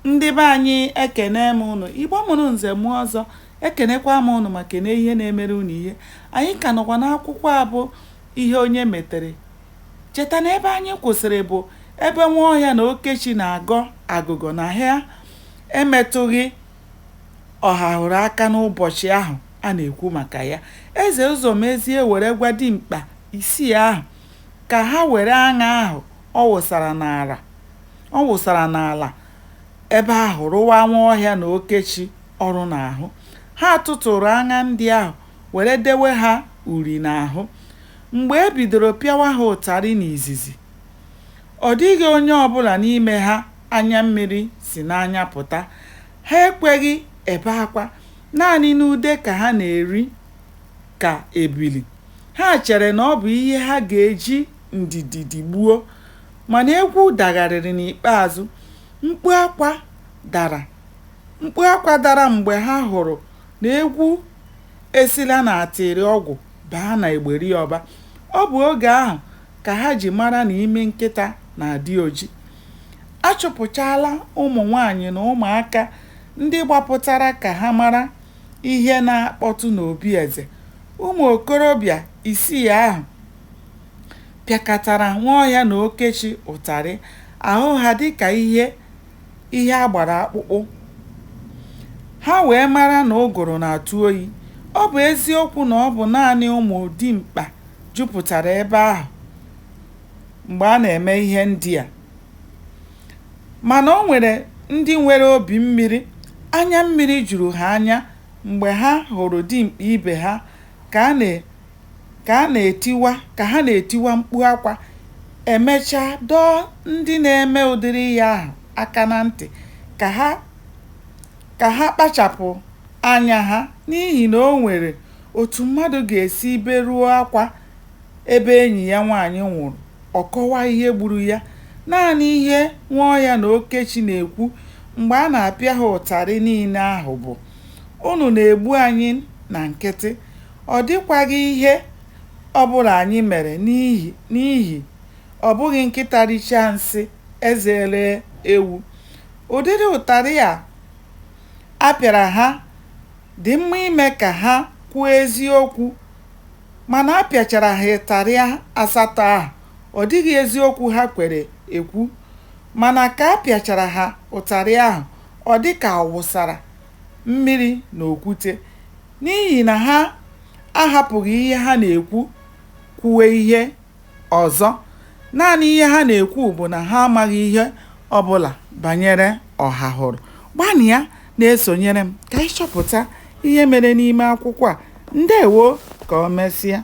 Ndị be anyị ekene m ụnụ, Igbo mụrụ nze mụọ ọzọ, ekenekwa m ụnụ ma kene ihe na-emere ụnụ ihe. Anyị ka nọkwa n'akwụkwọ a bụ ihe onye metere. Cheta na ebe anyị kwụsịrị bụ ebe Nwaọhịa na Okechi na-agọ agụgọ na ha emetụghị Ọhahụrụ aka n'ụbọchị ahụ a na-ekwu maka ya. Eze Ụzọmezie were gwa dimkpa isii ahụ ka ha were aṅa ahụ ọ wụsara n'ala Ọ wụsara n'ala ebe ahụ rụwa Nwaọhịa na Okechi ọrụ n'ahụ. Ha tụtụụrụ aṅa ndị ahụ were dewe ha uri n'ahụ. Mgbe e bidoro pịawa ha ụtarị n'izizi, ọ dịghị onye ọbụla n'ime ha anya mmiri si n'anya pụta. Ha ekweghị ebe akwa. Naanị n'ude ka ha na-eri ka ebili. Ha chere na ọ bụ ihe ha ga-eji ndidi digbuo. Mana egwu dagharịrị n'ikpeazụ, mkpu akwa dara, mkpu akwa dara mgbe ha hụrụ na egwu esila n'atịrịọgwụ baa na egberi ọba. Ọ bụ oge ahụ ka ha ji mara na imi nkịta na-adị oji. A chụpụchaala ụmụnwaanyị na ụmụaka ndị gbapụtara ka ha mara ihe na-akpọtụ n'obi eze. Ụmụ okorobịa isii ahụ pịakatara Nwaọhịa na Okechi ụtarị, ahụ ha dịka ihe ihe a gbara akpụkpụ. Ha wee mara na ụgụrụ na-atụ oyi. Ọ bụ eziokwu na ọ bụ naanị ụmụ dimkpa jupụtara ebe ahụ mgbe a na-eme ihe ndị a, mana o nwere ndị nwere obi mmiri, anya mmiri juru ha anya mgbe ha hụrụ dimkpa ibe ha ka a na ka a na-etiwa ka ha na-etiwa mkpu akwa, e mechaa dọọ ndị na-eme ụdịrị ihe ahụ aka na ntị ka ha ka ha kpachapụ anya ha n'ihi na o nwere otu mmadụ ga-esi beruo akwa ebe enyi ya nwaanyị nwụrụ, ọ kọwaa ihe gburu ya. Naanị ihe Nwaọhịa na Okechi na-ekwu mgbe a na-apịa ha ụtarị niile ahụ bụ. Unu na-egbu anyị na nkịtị, ọ dịkwaghị ihe ọ bụla anyị mere n'ihi ọ bụghị nkịta richaa nsị, eze eree ewu. Ụdịrị ụtarị a a pịara ha dị mma ime ka ha kwuo eziokwu, mana a pịachara ha ụtarị asatọ ahụ, ọ dịghị eziokwu ha kwere ekwu. Mana ka a pịachara ha ụtarị ahụ, Ọ dị ka a wụsara mmiri n'okwute. N'ihi na ha ahapụghị ihe ha na-ekwu kwuwe ihe ọzọ. Naanị ihe ha na-ekwu bụ na ha amaghị ihe ọ bụla banyere ọhahụrụ. Gbanịa na-esonyere m ka anyị chọpụta ihe mere n'ime akwụkwọ a. Ndewo! Ka o mesịa.